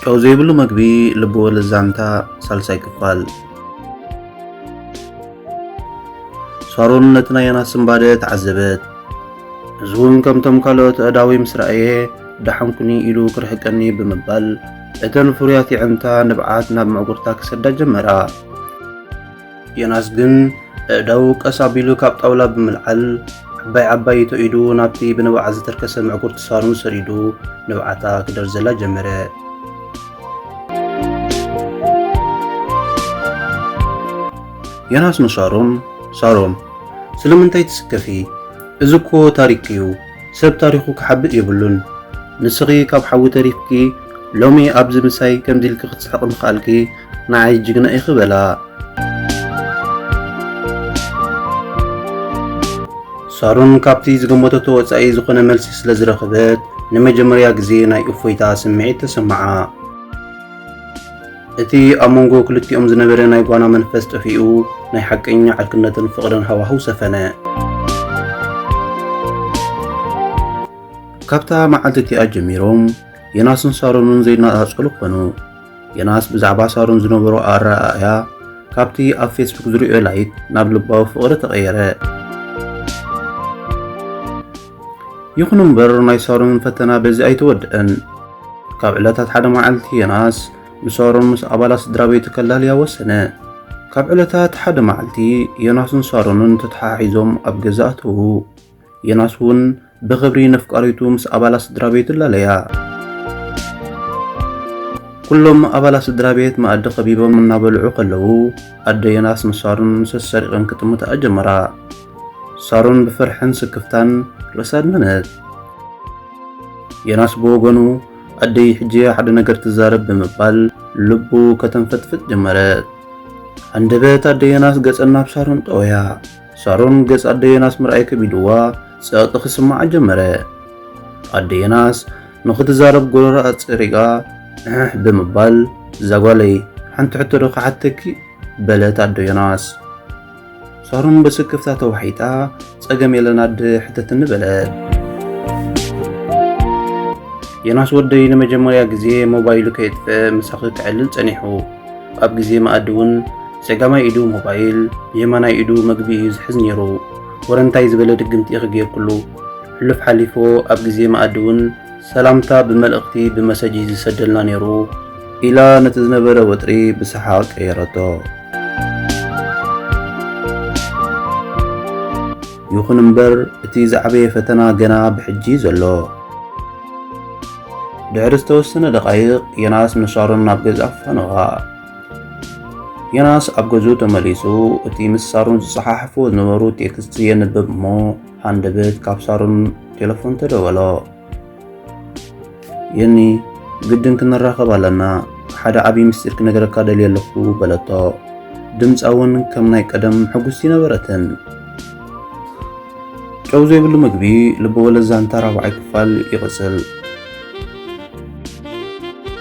ጨው ዘይብሉ መግቢ ልቢ ወለድ ዛንታ ሳልሳይ ክፋል ሳሮን ነቲ ናይ ዮናስ ስምባደ ተዓዘበት እዚ እውን ከምቶም ካልኦት ኣእዳወይ ምስ ረኣየ ዳሓንኩኒ ኢሉ ክርሕቀኒ ብምባል እተን ፍሩያት የዕንታ ንብዓት ናብ ምዕጉርታ ክሰዳ ጀመራ። ዮናስ ግን እዳው ቀስ ኣቢሉ ካብ ጣውላ ብምልዓል ዓባይ ዓባይ ይቶ ኢዱ ናብቲ ብንብዓት ዝተርከሰ ምዕጉርቲ ሳሮን ሰዲዱ ንብዓታ ክደርዘላ ጀመረ። ዮናስ ንሳሮን ሳሮን ስለምንታይ ትስከፊ? እዚ እኮ ታሪክ እዩ ሰብ ታሪኹ ክሓብእ የብሉን ንስኺ ካብ ሓዊ ተሪፍኪ ሎሚ ኣብዚ ምሳይ ከምዚ ኢልኪ ክትስሕቂ ምኽኣልኪ ንዓይ ጅግና ኢኺ በላ። ሳሮን ካብቲ ዝገመተቶ ወጻኢ ዝኾነ መልሲ ስለ ዝረኸበት ንመጀመርያ ግዜ ናይ እፎይታ ስምዒት ተሰምዓ። እቲ ኣብ መንጎ ክልቲኦም ዝነበረ ናይ ጓና መንፈስ ጠፊኡ፣ ናይ ሓቀኛ ዕርክነትን ፍቕርን ሃዋህው ሰፈነ። ካብታ መዓልቲ እቲኣ ጀሚሮም ዮናስን ሳሮንን ዘይነጻጸሉ ኾኑ። ዮናስ ብዛዕባ ሳሮን ዝነበሮ ኣረኣእያ ካብቲ ኣብ ፌስቡክ ዝርእዮ ላይክ ናብ ልባዊ ፍቕሪ ተቐየረ። ይኹን እምበር ናይ ሳሮንን ፈተና በዚ ኣይተወድአን። ካብ ዕለታት ሓደ መዓልቲ ዮናስ ንሳሮን ምስ ኣባላት ስድራ ቤቱ ከላልያ ወሰነ። ካብ ዕለታት ሓደ መዓልቲ ዮናስን ሳሮንን ተተሓሒዞም ኣብ ገዛ ኣተዉ። ዮናስ እውን ብኽብሪ ነፍቃሪቱ ምስ ኣባላት ስድራ ቤቱ ላለያ። ኩሎም ኣባላት ስድራ ቤት መኣዲ ከቢቦም እናበልዑ ከለዉ ኣደ ዮናስ ንሳሮን ሰሰሪቐን ክጥምታ ጀመራ። ሳሮን ብፍርሕን ስክፍታን ርእሳ ኣድመነት። ዮናስ ብወገኑ ኣደይ ሕጂ ሓደ ነገር ትዛረብ ብምባል ልቡ ከተንፈጥፍጥ ጀመረት። ኣንደበት ኣደ ዮናስ ገጸን ናብ ሳሮን ጠወያ። ሳሮን ገጽ ኣደ ዮናስ ምርኣይ ከቢድዋ ጸቕጢ ክስምዓ ጀመረ። ኣደ ዮናስ ንኽትዛረብ ጎረራ ኣጸሪጋ እሕ ብምባል እዛ ጓለይ ሓንቲ ሕቶ ዶ ክሓተኪ በለት ኣደ ዮናስ ሳሮን ብስክፍታ ተዋሒጣ ጸገም የለን ኣደ ሕተትኒ በለት። ዮናስ ወደይ ንመጀመርያ ግዜ ሞባይሉ ከየጥፍአ ምሳኺ ክዕልል ጸኒሑ ኣብ ግዜ መኣዲ እውን ጸጋማይ ኢዱ ሞባይል የማናይ ኢዱ መግቢ እዩ ዝሕዝ ነይሩ። ወረ እንታይ ዝበለ ድግምቲ ኢኺ ጌርኩሉ? ሕሉፍ ሓሊፎ ኣብ ግዜ መኣዲ እውን ሰላምታ ብመልእኽቲ ብመሰጅ እዩ ዝሰደልና ነይሩ ኢላ ነቲ ዝነበረ ወጥሪ ብሰሓቕ ቀየረቶ። ይኹን እምበር እቲ ዝዓበየ ፈተና ገና ብሕጂ ዘሎ። ድሕሪ ዝተወሰነ ደቓይቕ ዮናስ ምስ ሳሮን ናብ ገዛ ፈነዋ። ዮናስ ኣብ ገዝኡ ተመሊሱ እቲ ምስ ሳሮን ዝጸሓሕፎ ዝነበሩ ቴክስት የንብብ እሞ ሃንደበት ካብ ሳሮን ቴለፎን ተደወሎ። የኒ ግድን ክንራኸብ ኣለና፣ ሓደ ዓብዪ ምስጢር ክነገረካ ደልየ ኣለኹ በለቶ። ድምፃ እውን ከም ናይ ቀደም ሕጉስቲ ነበረትን። ጨው ዘይብሉ ምግቢ ልበወለድ ዛንታ ራብዓይ ክፋል ይቕፅል።